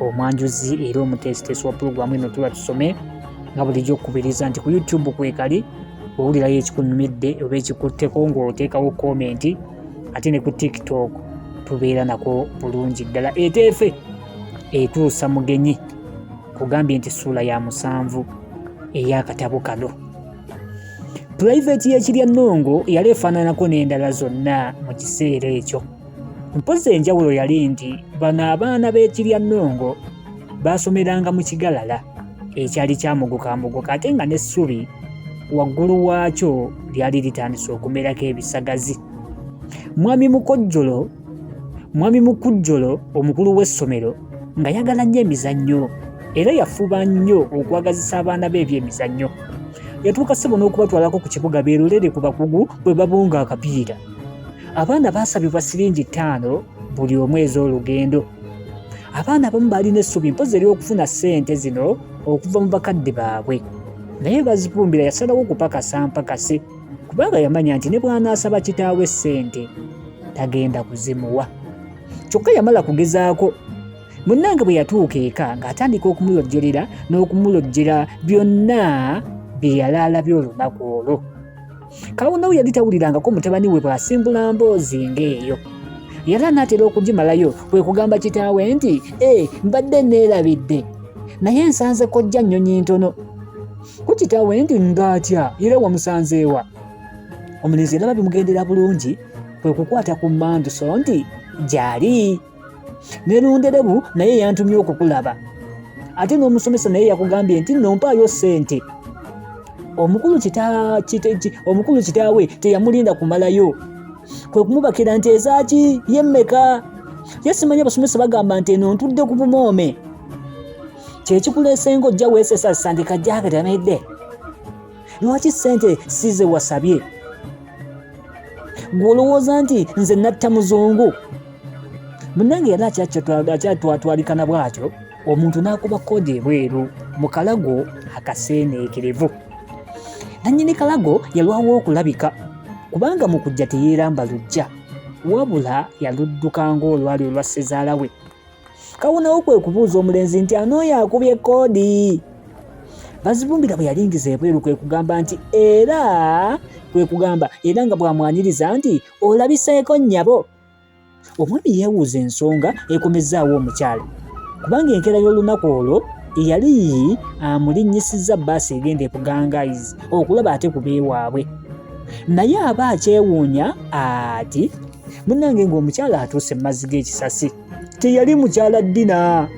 omwanjuzi era omuteesiteesi wa pulogulaamu eno tuba tusome nga bulijjo okukubiriza nti ku youtube kwekali owulirayo ekikunyumidde oba ekikutteko ng'oteekawo komenti ate ne ku tiktok tubeera nako bulungi ddala eteefe etuusa mugenyi kugambye nti ssuula ya musanvu ey'akatabo kano pulayiveeti y'ekirya nnongo yali efaananako n'endala zonna mu kiseera ekyo Mpozzi enjawulo yali nti bano abaana b'ekirya nnongo baasomeranga mu kigalala ekyali kyamugukambuguka ate nga n'essubi waggulu waakyo lyali litandise okumerako ebisagazi mwami mukojjolo mwami mukujjolo omukulu w'essomero nga yagala nnyo emizannyo era yafuba nnyo okwagazisa abaana be ebyemizannyo yatuuka ssebo n'okubatwalako ku kibuga beerolere ku bakugu bwe babunga akapiira abaana baasabibwa siringi ttaano buli omu ez'olugendo abaana abamu baalina essubi mpozi ery'okufuna ssente zino okuva mu bakadde baabwe naye bazipumbira yasalawo okupakasa mpakase kubanga yamanya nti ne bw'anaasaba kitaawe ssente tagenda kuzimuwa kyokka yamala kugezaako munnange bwe yatuuka eka ng'atandika okumulojjolera n'okumulojjera byonna bye yali alabye olunaku olwo Kawunawu yali tawulirangako mutabani we bw'asimbula mboozi ng'eyo. Yali anaatera okugimalayo kwe kugamba kitaawe nti, ee, eh, mbadde neerabidde, naye nsanze kojja nnyonyi ntono. Ku kitaawe nti, ng'atya era wamusanzeewa? Omulenzi yalaba bimugendera bulungi kwe kukwata ku mmanduso nti, gyali. nerunderebu naye yantumye okukulaba ate n'omusomesa naye yakugambye nti nompaayo ssente omukulu omukulu kitaawe teyamulinda kumalayo kwe kumubakira nti ezaaki yemmeka ye simanya abasomesa bagamba nti eno ntudde ku bumoome kyekikuleesenga ojja weesesa sandika jaakati amedde lwaki sente size wasabye gwe olowooza nti nze natta muzungu munange yali akyatwatwalikana bwatyo omuntu n'akuba kkoodi ebweru mu kalago akaseeneekerevu nannyini kalago yalwawo okulabika kubanga mu kujja teyeeramba lujja wabula yaludduka ng'olwali olwa ssezaala we kawonawo kwe kubuuza omulenzi nti anooyo akubye koodi bazibumbira bwe yalingiza ebweru kwe kugamba nti era kwe kugamba era nga bw'amwaniriza nti olabiseeko nnyabo omwami yeewuuza ensonga ekomezzaawo omukyala kubanga enkeera y'olunaku olwo eyali amulinnyisizza bbaasi egenda ebugangaizi okulaba ate ku beewaabwe naye aba akyewuunya ati munnange ng'omukyala atuuse mu mazzi g'ekisasi teyali mukyala Dina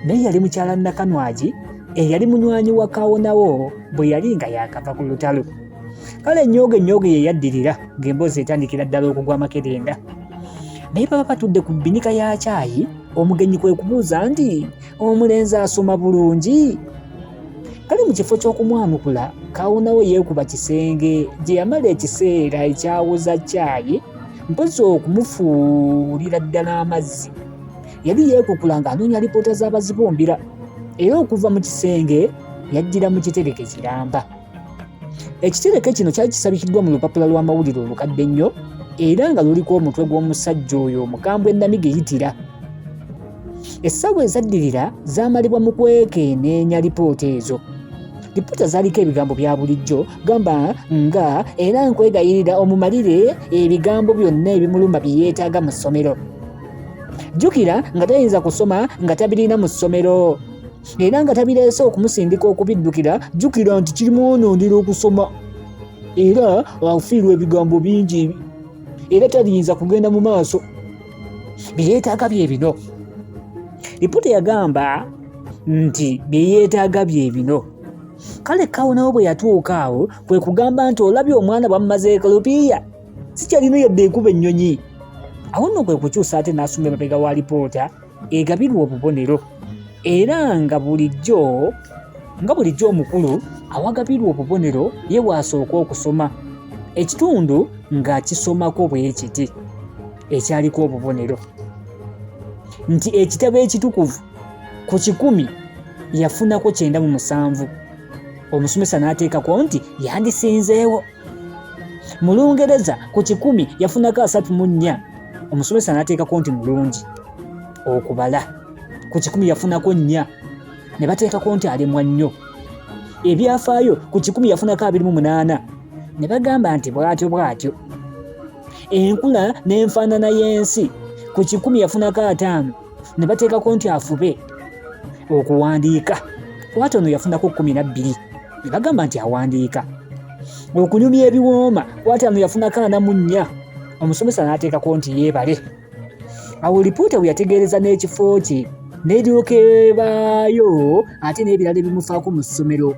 naye yali mukyala Nakanwagi eyali munywanyi wa Kawonawo bwe yali nga yakava ku lutalo. Kale ennyooga ennyooga ye yaddirira ng'emboozi etandikira ddala okugwa amakerenda. Naye baba batudde ku bbinika ya caayi omugenyi kwe kubuuza nti omulenzi asoma bulungi? Kale mu kifo ky'okumwanukula Kawonawo yeekuba kisenge gye yamala ekiseera ekyawoza caayi mpozi okumufuulira ddala amazzi yali yeekukula ng'anoonya lipoota z'abazibumbira era okuva mu kisenge yajjira mu kitereke kiramba ekitereke kino kyali kisabikiddwa mu lupapula lw'amawulire olukadde ennyo era nga luliko omutwe gw'omusajja oyo omukambwe namiga eyitira Essaawa ezaddirira zaamalibwa mu kwekeneenya lipoota ezo. Lipoota zaaliko ebigambo bya bulijjo gamba nga era nkwegayirira omumalire ebigambo byonna ebimuluma bye yeetaaga mu ssomero. Jjukira nga tayinza kusoma nga tabirina mu ssomero era nga tabireese okumusindika okubiddukira jjukira nti kirimwonondera okusoma era afiirwa ebigambo bingi era taliyinza kugenda mu maaso. byeyetaaga bye bino lipoota yagamba nti byeyetaaga bye bino kale kawonawo bwe yatuuka awo kwe kugamba nti olabye omwana bwamumaze ekolopiya sikyalina yadde ekuba ennyonyi awo nno kwe kukyusa ate n'asoma emabega wa lipoota egabirwa obubonero era nga bulijjo nga bulijjo omukulu awagabirwa obubonero ye waasooka okusoma ekitundu ng'akisomako bwe kiti ekyaliko obubonero nti ekitabo ekitukuvu ku kikumi yafunako kyenda mu musanvu omusomesa n'ateekako nti yandisinzeewo mu lungereza ku kikumi yafunako asatu mu nnya omusomesa n'ateekako nti mulungi okubala ku kikumi yafunako nnya ne bateekako nti alemwa nnyo ebyafaayo ku kikumi yafunako abiri mu munaana ne bagamba nti bw'atyo bw'atyo enkula n'enfaanana y'ensi ku kikumi yafunako ataano ne bateekako nti afube okuwandiika kwatono yafunako kkumi na bbiri ne bagamba nti awandiika okunyumya ebiwooma kwataano yafunako ana mu nnya omusomesa n'ateekako nti yeebale awo lipoota bwe yategeereza n'ekifo kye n'eryoka ebaayo ate n'ebirala ebimufaako mu ssomero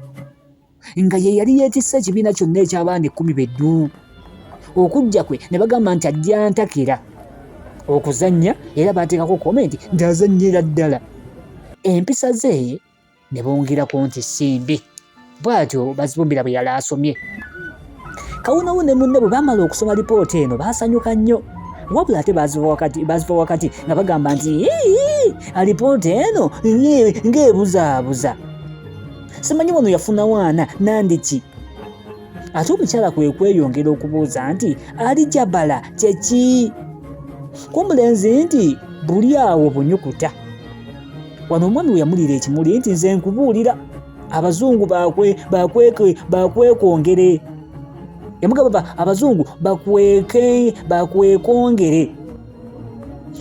nga ye yali yeetisse ekibiina kyonna eky'abaana ekkumi beddu okujja kwe ne bagamba nti ajja ntakira okuzannya era baateekako komenti nti azannyira ddala empisa ze ne bongerako nti simbi bwatyo bazibumbira bwe yali asomye kawonawo ne munne bwe baamala okusoma lipoota eno baasanyuka nnyo wabula ate baziva wakati nga bagamba nti alipoota eno ng'ebuzaabuza simanyi wano yafuna waana nandiki ate omukyala kwe kweyongera okubuuza nti ali jabala kyeki ku omulenzi nti buli awo bunyukuta wano omwami we yamulira ekimuli nti nze nkubuulira abazungu bakwekwongere yamugamba abazungu bakwekwongere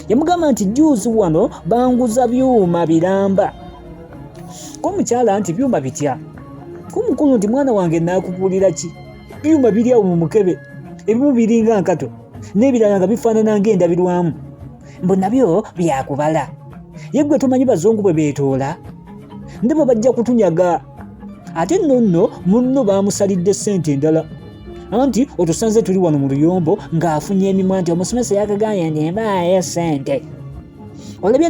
yamugamba nti juuzi wano banguza byuma biramba komukyala nti byuma bitya komukulu nti mwana wange nakugulira ki byuma biri awo mu mukebe ebimu biringa nkato n'ebirala nga bifaanana ng'endabirwamu mbu nabyo byakubala ye gwe tomanyi bazungu bwe beetoola ndebo bajja kutunyaga ate nno nno munno baamusalidde ssente endala anti otusanze tuli wano mu luyombo ng'afunye emimwa nti omusomesa yakagambye nti mbaayo ssente olabye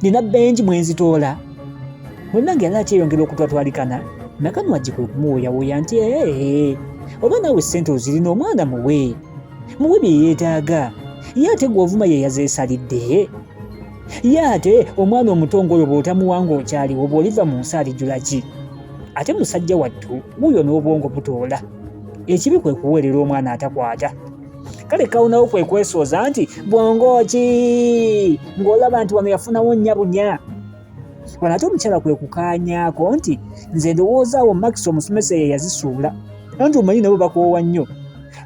nina bengi mwe nzitoola munange yali akyeyongera okutwatwalikana nakanwagi kwe kumuwooyawooya nti ee oba naawe ssente ozirina omwana muwe muwe bye yeetaaga ye ate gw'ovuma ye yazeesalidde ye ate omwana omuto ng'oyo bw'otamuwa ng'okyaliwo bw'oliva mu nsi alijula ki ate musajja wattu wuuyo n'obwongo butoola ekibi kwe kuweerera omwana atakwata kale kawonawo kwe kwesooza nti bwongo ki ng'olaba nti wano yafunawo nnya bunya wano ate omukyala kwe kukaanyaako nti nze ndowoozaawo makisi omusomesa ye yazisuula anti omanyi nabo bakoowa nnyo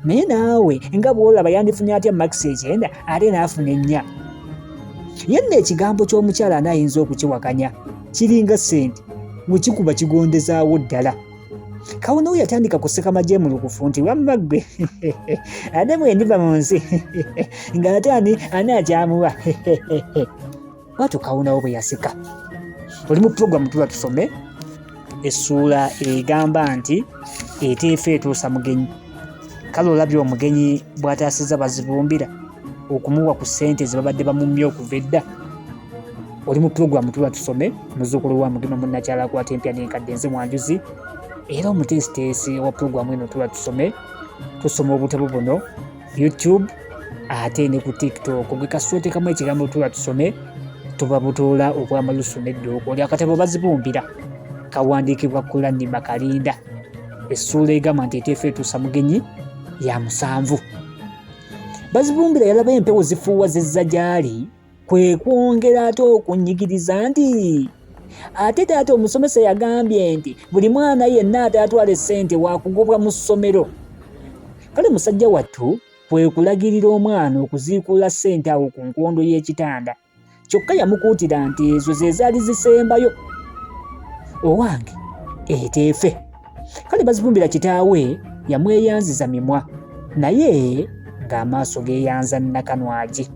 naye naawe nga bwolaba yandifunye atya makisi ekyenda ate naafuna ennya yenna ekigambo ky'omukyala anaayinza okukiwakanya kiringa ssente wekikuba kigondezaawo ddala kawonawo yatandika kuseka majemulukufu nti wamma ggwe ate bwendiva mu nsi nga ate ani ani akyamuwa bwatyo kawunawo bwe yaseka oli mu pulogulamu tuba tusome essuula egamba nti eteefa etuusa mugenyi kale olabye omugenyi bw'ataasizza bazibumbira okumuwa ku ssente ze babadde bamumye okuva edda oli mu pulogulamu tuba tusome muzuukulu wa mugema munnakyala akwata empya n'enkadde nze mwanjuzi era omuteesiteesi wa pulogulamu eno tuba tusome tusoma obutabo buno youtube ate ne ku tiktok gwe kasita otekamu ekigambo tula tusome tuba butoola obwamalusu neddoogo oli akatabo bazibumbira kawandiikibwa kulani makalinda essuula egamba nti eteefa etuusa mugenyi ya musanvu bazibumbira yalaba empewo zifuuwa zezza gyali kwe kwongera ate okunyigiriza nti ate taata omusomesa yagambye nti buli mwana yenna ataatwala essente wakugobwa mu ssomero kale musajja wattu kwe kulagirira omwana okuziikuula ssente awo ku nkondo y'ekitanda kyokka yamukuutira nti ezo ze zaali zisembayo owange eteefe kale bazibumbira kitaawe yamweyanziza mimwa naye ng'amaaso geeyanza nakanwagi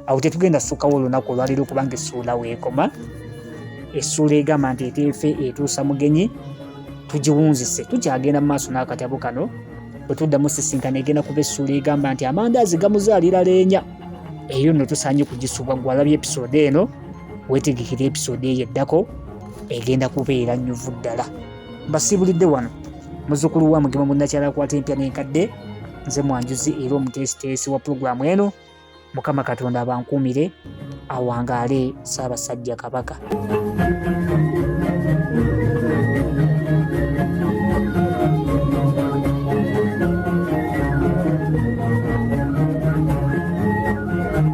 awo tetugenda sukawo olunaku olwaleero kubanga essuula weekoma essuula egamba nti eteefe etuusa mugenyi tugiwunzise tukyagenda mu maaso n'akatabo kano bwe tuddamu sisinkana egenda kuba essuula egamba nti amandaazi gamuzaalira leenya eyo nno tusaanye kugisubwa gwalabye episode eno wetegekera episode eyo eddako egenda kubeera nyuvu ddala mbasiibulidde wano muzukulu wa mugema munnakyala akwata empya n'enkadde nze mwanjuzi era omuteesiteesi wa pulogulaamu eno mukama katonda abankuumire awangaale ssaabasajja kabaka